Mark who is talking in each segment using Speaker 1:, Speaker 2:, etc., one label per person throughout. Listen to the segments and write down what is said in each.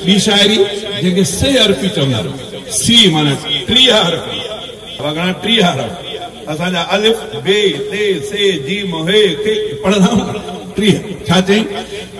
Speaker 1: ٻي شاعري جنهن کي سه حرفي چوندا آهن. سي معنيٰ ٽيهه حرف. اوهان گهڻا ٽيهه حرف اسان جا الف، ب، ت، س، ج، م، ح، ک پڙهندا آهيون نه. ٽيهه ڇا چئين؟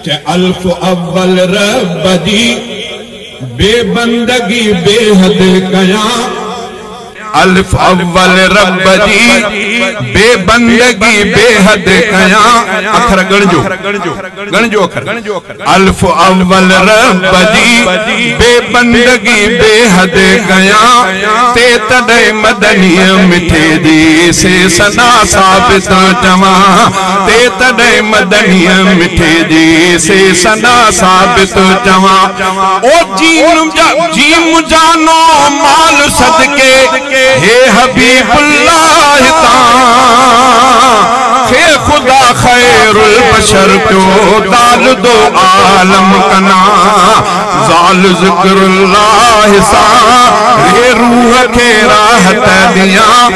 Speaker 1: چئين الف اول رب جي بي بندگي بيحد ڪيان. الف اول رب جي بي بندگي بي حد ڪيان اکر ڳڻجو ڳڻجو اکر الف اول رب جي بي بندگي بي حد ڪيان تي تڏهن مدني مٺي جي سي ثنا ثابت چوان تي تڏهن مدني مٺي جي سي ثنا ثابت چوان او جيم جا جيم جانو مال صدقي هي حبيب الله تان کي خدا خير البشر پيو دالدو عالم ڪنا زال ذڪر الله سان ري روح کي راحت ڏيان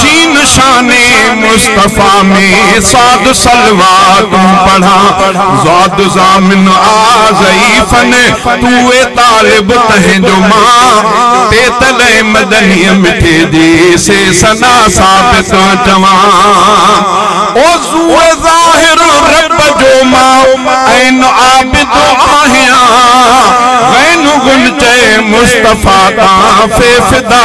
Speaker 1: شين شان مصطفيٰ ۾ صاد صلوات پڙهان زاد ضامن آ ضعيفن توئي طالب تنهن جو مان تي تلئي مدنيء مٺي جي سي ثنا ثابت چوان عضو ظاهر رب جو مان عين عابد آهيان غين غنچه مصطفيٰ تان في فدا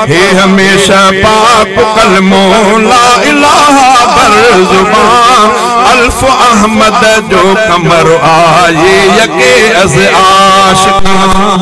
Speaker 1: هي هميشه پاڪ ڪلمو لا اله بر زبان الف احمد جو قمر آهي يڪي از عاشقان.